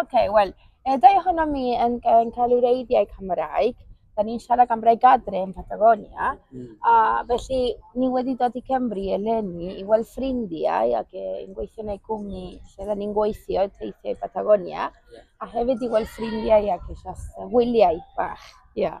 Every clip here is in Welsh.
OK, wel, y ddau ohono mi yn, yn cael ei reiddiau Cymraeg. Da ni'n siarad am rhaid adre yn Patagonia. Mm. A felly, ni wedi dod i Cymru eleni i weld ffrindiau ac yn gweithio yn ei gwmni lle da ni'n gweithio teithiau Patagonia. Yeah. A hefyd i weld ffrindiau ac eisiau wyliau bach. Yeah.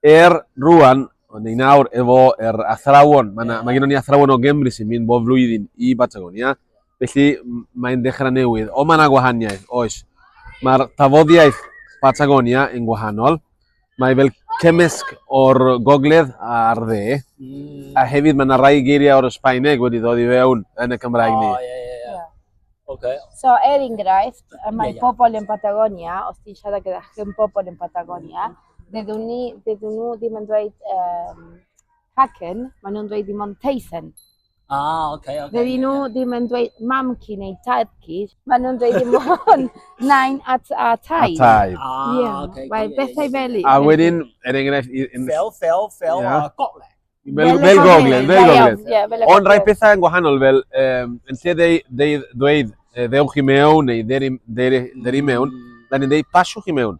Er, rwan, ond ei nawr efo yr athrawon, mae, yeah. mae gen i athrawon o Gymru sy'n mynd bob flwyddyn i Batagonia, felly mae'n dechrau newydd, ond mae yna gwahaniaeth, oes. Mae'r tafoddiaeth Patagonia yn gwahanol, mae fel cymysg o'r gogledd a'r dde, mm. a hefyd mae yna rai geiriau o'r Sbaeneg wedi ddod i fewn yn y Cymraeg ni. Oh, yeah, yeah. Okay. So, er enghraifft, mae yeah, yeah. pobl yn Patagonia, os ti'n siarad gyda chi'n pobl yn Patagonia, mm. Dydyn ni, dydyn nhw ddim yn dweud um, Haken, maen nhw'n dweud ddim ond Teisen. Ah, oce, okay, oce. Okay, Dydyn yeah, nhw yeah. ddim yn dweud mamci neu tadci, maen nhw'n dweud ddim ond nain a, a taid. A taid. Ah, yeah. oce. Okay, Mae bethau fel i. A wedyn, er enghraifft... Fel, fel, fel, yeah. uh, gogle. Fel, fel gogle, fel gogle. Ond rhai pethau yn gwahanol, fel, um, yn lle dweud, dweud, ddewch i mewn neu dderi mewn, mm. da ni'n dweud pasiwch i mewn.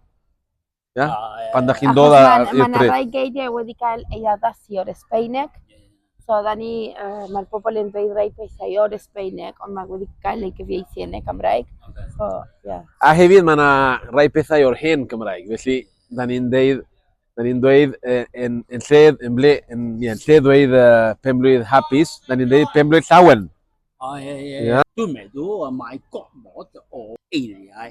Ia? A, yy, Pan da chi'n dod Achos ar- mae i'r yna bryd. rai geiriau wedi cael ei addasu o'r Esbeineg. So, da ni, uh, mae'r bobl yn dweud rai pethau o'r Esbeineg, ond mae wedi cael ei gyfieithu yn y Gymraeg. Ocê. So, ie. Yeah. A hefyd mae yna rai pethau o'r hen Gymraeg, felly da ni'n deud, da ni'n dweud uh, yn, yn lle, yn ble, yn, ie, yn lle dweud uh, penblwydd hapus, da ni'n deud penblwydd llawen. O, ie, ie, Ie. ie. Dwi'n meddwl y mae gormod o eiriau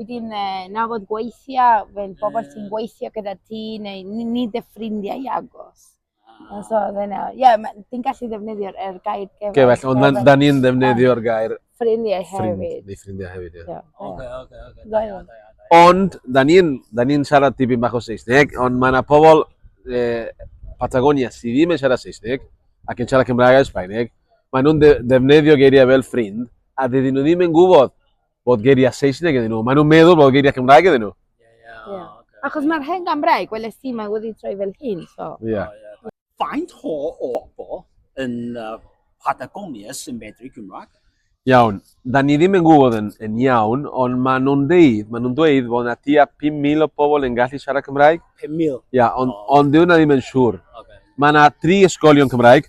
Wedyn, na fod gweithiau, fel pobl yeah. sy'n gweithio gyda ti, neu ni dy ffrindiau i agos. Ah. So, dyna, ie, yeah, ti'n gallu ddefnyddio'r er gair gefell. Gefell, ond da ni'n ddefnyddio'r gair... Ffrindiau hefyd. Ffrind, ffrindiau hefyd, ie. Yeah. Oce, oce, oce. Ond, da ni'n ni siarad tipyn bach o Saesneg, ond mae yna pobl eh, Patagonia sydd ddim yn siarad Saesneg ac yn siarad Cymraeg a Sbaeneg, maen nhw'n ddefnyddio geiriau fel ffrind a dydyn nhw ddim yn gwybod bod geiriau Saesneg iddyn nhw. Maen nhw'n meddwl bod geiriau Cymraeg iddyn nhw. Yeah. Achos mae'r hen Gymraeg, wel, ys ti, mae wedi troi fel hyn, so. Yeah. Faint ho o bo yn uh, Patagonia sy'n medru Cymraeg? Iawn, da ni ddim yn gwybod yn, yn iawn, ond maen nhw'n deud, maen nhw'n dweud bod yna tua 5,000 o pobl yn gallu siarad Cymraeg. 5,000? Ia, ond, oh. ond dwi ddim yn siŵr. Okay. Mae yna tri ysgolion Cymraeg,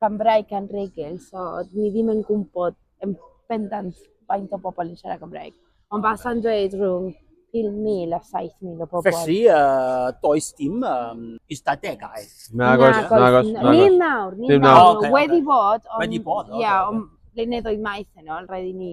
gan Gymraeg gan regl, so dwi ddim yn gwybod yn bendant faint o bobl yn siarad Gymraeg. Ond basa'n dweud rhwng 5,000 a 7,000 o bobl. Felly, uh, does dim um, ystadegau. Na, gos, na, gos. Ni nawr, ni nawr. Wedi bod, ond... Wedi bod, oce. Ia, ond blynyddoedd maith yn ôl, roedd i ni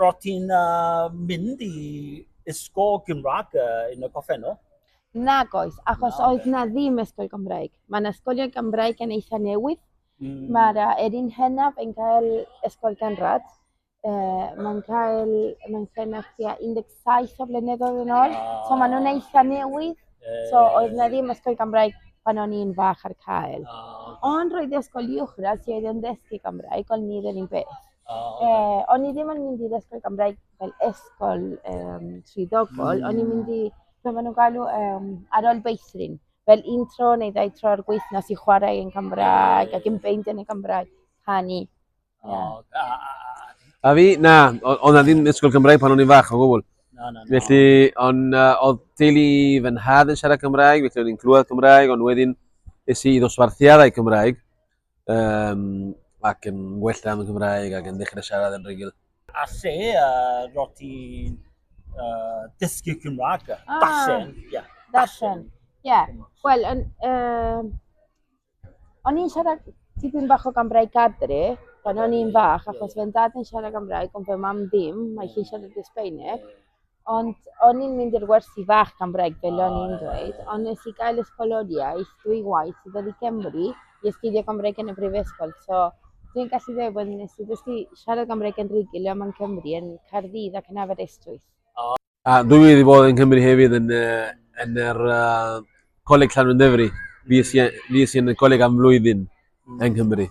Rwyt ti'n mynd i ysgol Gymraeg yn y gorffennol? Nag oes, achos oedd na ddim ysgol Gymraeg. Mae'n ysgolion Gymraeg yn eitha newydd. Mm. Mae'r erin hynaf yn cael ysgol ganrad. E, mae'n cael, mae'n cael tua 17 o flynyddoedd yn ôl. Ah. So maen nhw'n eitha newydd. E, so oedd na ddim ysgol Gymraeg pan o'n i'n fach ar cael. Ah. Ond roedd ysgol uwchradd sydd yn ddysgu Gymraeg, ond ni ddim yn beth. Ie, o'n i ddim yn mynd i'r ysgol Gymraeg fel ysgol um, swyddogol, mm. o'n i'n mynd i, beth maen nhw'n galw, um, ar ôl beithrin. Fel un tro neu ddau tro ar gweithnos i chwarae yn Gymraeg ac yn beint yn y Gymraeg, canu. Yeah. A fi, na, o'n na ddim ysgol Gymraeg pan o'n i'n fach o gwbl. Na, na, na. Felly, o'n, uh, oedd teulu fy nhad yn siarad Cymraeg, felly o'n i'n clywed Cymraeg, ond wedyn es i i ddosbarthiadau Cymraeg. Um, ac yn well am y Gymraeg ac yn ddechrau siarad yn rhugl. A lle uh, roi ti'n uh, dysgu Cymraeg? Ah, Darllen, ie. Yeah. Darllen, ie. Yeah. Wel, yn... Um, o'n i'n siarad tipyn bach o Gymraeg adre, pan o'n i'n fach, achos fe'n dad yn siarad Gymraeg, ond fe mam ddim, mae hi'n siarad Esbeineg. Ond o'n i'n mynd i'r wersi fach am breg, fel o'n i'n dweud, ond nes i gael ysgoloriaeth dwy waith i ddod i Gymru i astudio Gymraeg yn y Brifysgol. So, dwi'n gallu dweud bod nes i ddysgu siarad Gymraeg yn rhugl yma yn Cymru, yn Caerdydd ac yn Aberystwyth. A dwi wedi bod yn Cymru hefyd yn, uh, yn yr uh, Coleg Llanwndefri. Fi i yn y coleg am flwyddyn yn Cymru.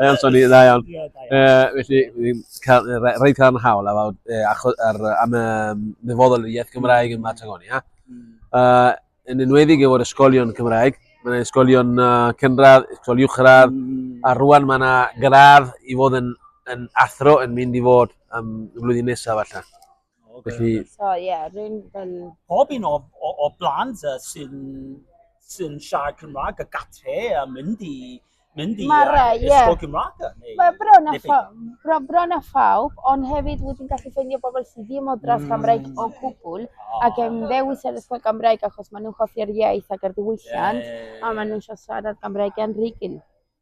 Mae o'n swnio dda iawn. Ie, da iawn. Yy, felly, fi'n cael, yy, re- roedd cael yn hawl ar, yy, acho- ar, yy, am y dyfodol yr iaith Gymraeg yn Patagonia. Uh, yn enwedig efo'r ysgolion Cymraeg, mae yna ysgolion uh, cynradd, ysgol uwchradd, Mm. a rwan mae yna gradd i fod yn, yn athro yn mynd i fod um, y flwyddyn nesaf allan. Felly... So ie, yeah, rwy'n fel... Pob un o, o, o blant sy'n sy siarad Cymraeg a gatre a mynd i mynd i Mae'r, uh, ysgol yeah. Gymraeg neu... Mae bron a, pha, bro, bron a phawb, ond hefyd wyt ti'n gallu ffeindio bobl sydd ddim o dras mm. Gymraeg o gwbl, oh. ac yn ddewis ar ysgol Gymraeg achos maen nhw'n hoffi'r iaith ac yr ddiwylliant, yeah. a maen nhw'n siarad Gymraeg yn rhygyn.